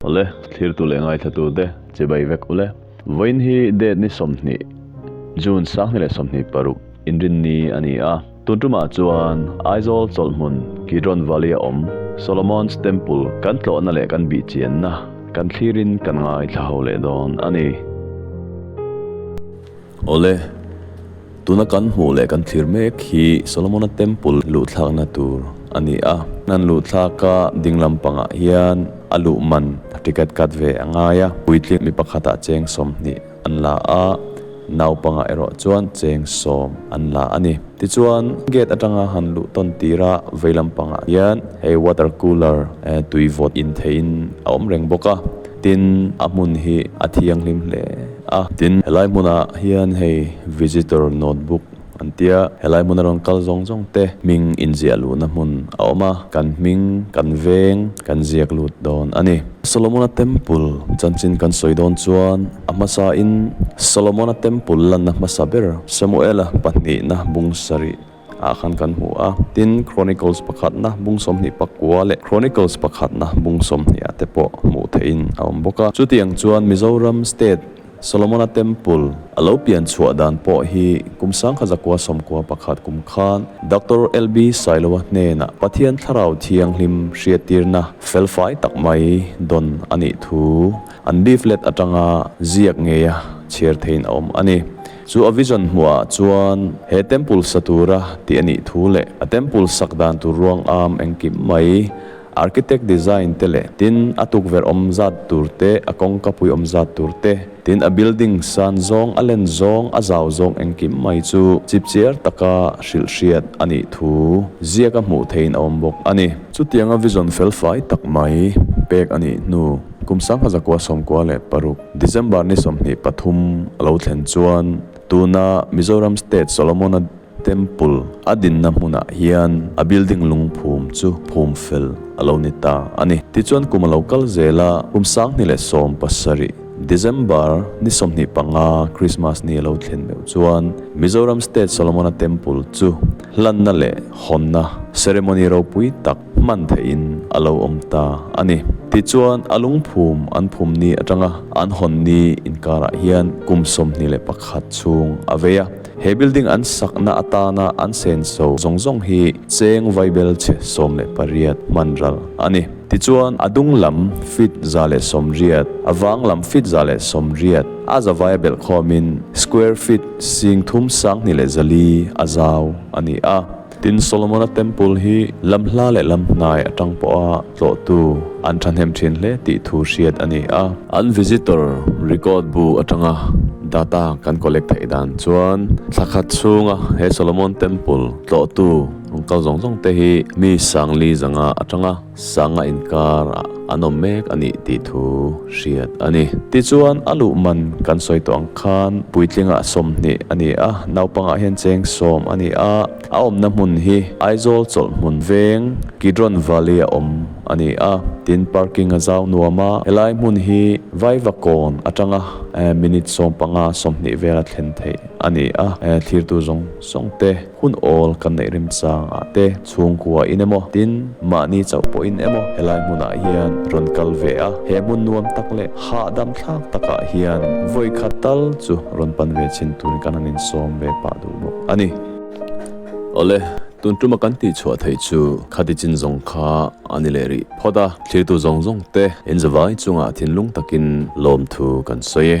Awle, thlirtu leh ngaithlatu te, chibai vek ule. Vawiin hi date ni sawmhnih, June sangni leh sawmhnih paruk, inrinni a ni a. Tun tumah chuan Aizawl chawlhmun Kidron Valley a awm Solomon's Temple kan tlawhna leh kan bihchianna kan thlirin kan ngaithla ho leh dawn a ni. Awle, tuna kan hmuh leh kan thlir mek hi Solomona Temple luhthlakna tur a ni a. An luhthlaka ding lampangah hian a luhman ticket cut ve a ngai a, puitling mi pakhatah cheng sawmhnih an la a, naupangah erawh chuan cheng sawm an la a ni. Tichuan, gate atanga han luh tawn tira vei lampangah hian hei water cooler tui vawt intheihin a awm reng bawk a, tin a hmun hi a thianghlim hle. a. Tin, he lai hmunah hian hei Visitor Notebook an tia, he lai hmuna rawn kal zawng zawng te hming inziah luhna hmun a awm a, kan hming, kan veng kan ziak lut dawn a ni. Solomona Temple chanchin kan sawi dawn chuan a hmasain Solomona Temple lanna hmasa ber Samuela pahnihna bung sarih Ah khan kan hmu a, tin Chronicles pakhatna bung sawmhnih pakua leh Chronicles pakhatna bung sawmhniha te pawh hmuh theihin a awm bawk a. Chutiang chuan Mizoram State Solomona Temple a lo pian chhuah dan pawh hi kum sangkha zakua sawmkua pakhat kum khan Doctor LB Sailoa hnenah Pathian thlarau thianghlim hriattirna fel fai tak mai dawn a nih thu an beef let atanga ziak ngeia chhiar theihin a awm a ni. Chu a vision hmuhah chuan he temple sa tura tih a nih thu leh a temple sak dan tur ruang âwm engkim mai, architect design te leh tin a tukverh awm zat tur te, a kawngka pui awm zat tur te, tin a building san zawng, a len zawng, a zau zawng engkim mai chu chipchiar taka hrilh hriat a nih thu ziaka hmuh theihin a awm bawk a ni. Chutianga vision felfai tak mai pek a nih hnu, Kum Sangha Zakua Sawmkua leh Paruk. December ni sawmhnih pathum a lo thlen chuan tuna Mizoram State Solomona Temple a dinna hmunah hian a building lungphum chu phum fel a lo ni ta a ni. Tichuan kum a lo kal zel a, kum sanghnih leh sawm pasarih, December ni sawmhnih panga Krismas ni a lo thlen meuh chuan Mizoram State Solomona Temple chu hlanna leh hawnna, ceremony, ropui tak, hman theihin a lo awm ta a ni. Tichuan, a lungphum an phum ni atanga an hawn ni inkarah hian kum sawmhnih leh pakhat chhung a vei a. He building an sakna atana an senso zawng zawng hi cheng vai bel chhe sawm leh pariat hmanral a ni. Tichuan, a dung lam feet za leh sawm riat, a vang lam feet za leh sawm riat a zavaia belh khawmin square feet singthum sanghnih leh zali a zau a ni a. Tin, Solomona Temple hi lam hla leh lam hnai atang pawha tlawhtu an thahnem thin hle tih thu hriat a ni a. An visitor record bu atanga data kan collect theih dan chuan thla khat chhunga he Solomon Temple tlawhtu kal zawng zawng te hi mi sangliza nga atanga, Sanga inkar ah an awm mek a nih tih thu hriat a ni. Tichuan a luh man kan sawi tawh ang khan Puitlinga sawmhnih a ni a, naupangah hian cheng sawm a ni a, a awmna hmun hi Aizawl chawlhmun veng Kidron Valley a awm a ni a, tin parking a zau nuam a, helai hmun hi Vaivakawn atanga minute sawmpanga sawmhnih vel a thlen theih a ni a, thlirtu zawng zawngte. Hun awl kan neih rem changah te, chhungkua in emaw, tin mahni chauh pawh in emaw helai hmunah hian rawn kal ve a. He hmun nuam tak leh hahdam thlak takah hian vawi khat tal chu rawn pan ve chhin turin kan han insawm ve pah duh bawk a ni. Awle, tun tuma kan tih chhuah theih chu khati chin zawng kha a ni leh rih phawt a, thirtu zawng zawng te in zavai chungah thinlung takin lawmthu kan sawi e.